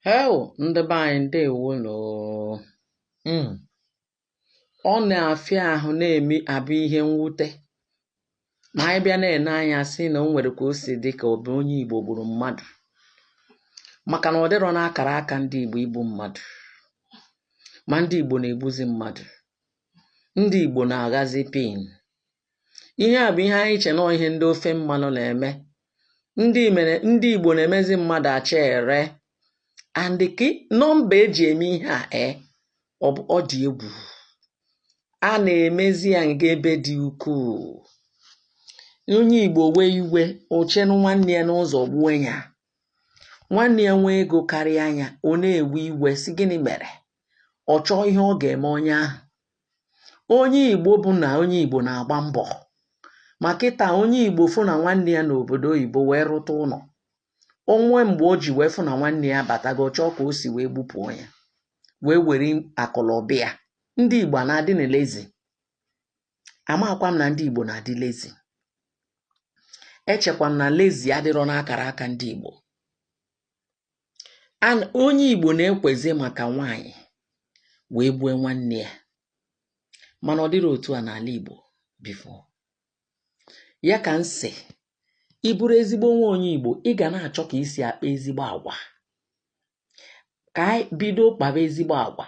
Heo ndị be anyị ndewo nụ o mm. ọ na-afịa ahụ na-eme abụ ihe mwute ma anyị bịa na-ene anya sị na o nwere ka o si dị ka ọ bụ onye Igbo gburu mmadụ maka na ọ dịrọ n'akara aka ndị Igbo igbu mmadụ ma ndị Igbo na-egbuzi mmadụ ndị Igbo na-aghazi pin ihe a bụ ihe anyị che na ọ ihe ndị ofe mmanụ na-eme ndị Igbo na-emezi mmadụ acha ere and ka nọmba eji eme ihe a e ọ dị egwu a na-emezi ya nga ebe dị ukwuu onye Igbo wee iwe o chere nwanne ya n'ụzọ gbuo ya nwanne ya nwee ego karịa nya ọ na-ewe iwe sị gịnị mere ọ chọọ ihe ọ ga-eme onye ahụ onye Igbo bụ na onye Igbo na-agba mbọ ma kịta onye Igbo fụ na nwanne ya nọ obodo oyibo wee rụta ụlọ o nwee mgbe o ji wee fụ na nwanne ya batago ọ chọọ ka o si wee gbupụ ya wee were akụ na ụba ya ndị Igbo na-adị na lazy amakwa m na ndị Igbo na-adị lazy echekwa m na lazy adịrọ n'akara aka ndị Igbo and onye Igbo na-ekwezi maka nwaanyị wee gbue nwanne ya mana ọ dịrị otu a n'ala Igbo before ya ka m sị ị bụrụ ezigbo nwa onye Igbo ị ga na-achọ ka i si akpa ezigbo agwa ka anyị bido kpaba ezigbo agwa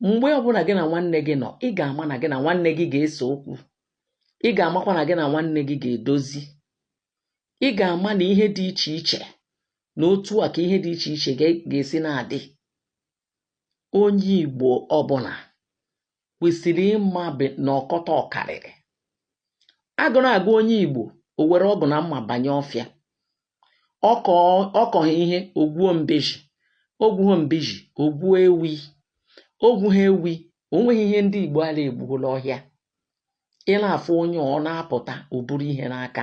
mgbe ọbụla gị na nwanne gị nọ ị ga-ama na gị na nwanne gị ga-ese okwu ị ga-amakwa na gị na nwanne gị ga-edozi ị ga-ama na ihe dị iche iche na otu a ka ihe dị iche iche ga-esi na-adị onye Igbo ọbụla kwesịrị ịma na ọkọta ọkarịrị agụụ na-agụ onye Igbo o were ọgụ na mma banye ọfịa ọ kọghị ihe o gwuo mbeji o gwughị mbeji o gwuo ewi o gwughị ewi o nweghị ihe ndị Igbo ala egbuola ọhịa ị na-afụ onye ọ na-apụta o buru ihe n'aka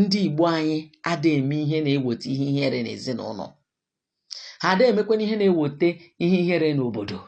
ndị Igbo anyị ada eme ihe na-eweta ihe ihere n'ezinụlọ ha ada emekwana ihe na-eweta ihe ihere n'obodo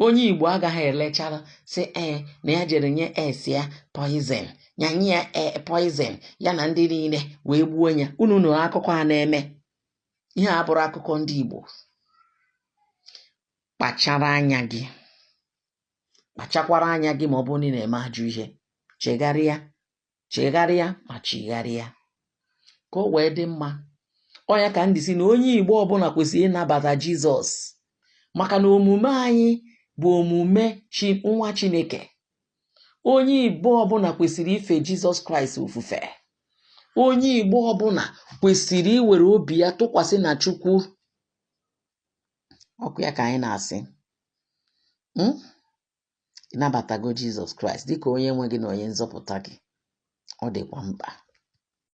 onye Igbo agaghị elechara sị ee na ya jere nye es ya poison ya nye ya e, poison ya na ndị niile wee gbuo ya unu nụrụ akụkọ a na-eme ihe a bụrụ akụkọ ndị Igbo kpachara anya gị kpachakwara anya gị ma ọ bụrụ na ị na-eme ajọ ihe chegharịa chegharịa ma chigharịa ka o wee dị mma ọ ya ka m ji sị na onye igbo ọbụla kwesịrị ịnabata jizọs maka na omume anyị bụ omume chi nwa chineke onye igbo ọbụla kwesịrị ife jizọs kraịst ofufe onye igbo ọbụla kwesịrị iwere obi ya tụkwasị na chukwu okwu ya ka anyị na-asị hmm? ịnabatago Jizọs Kraịst dịka onye nwe gị na onye nzọpụta gị ọ dịkwa mkpa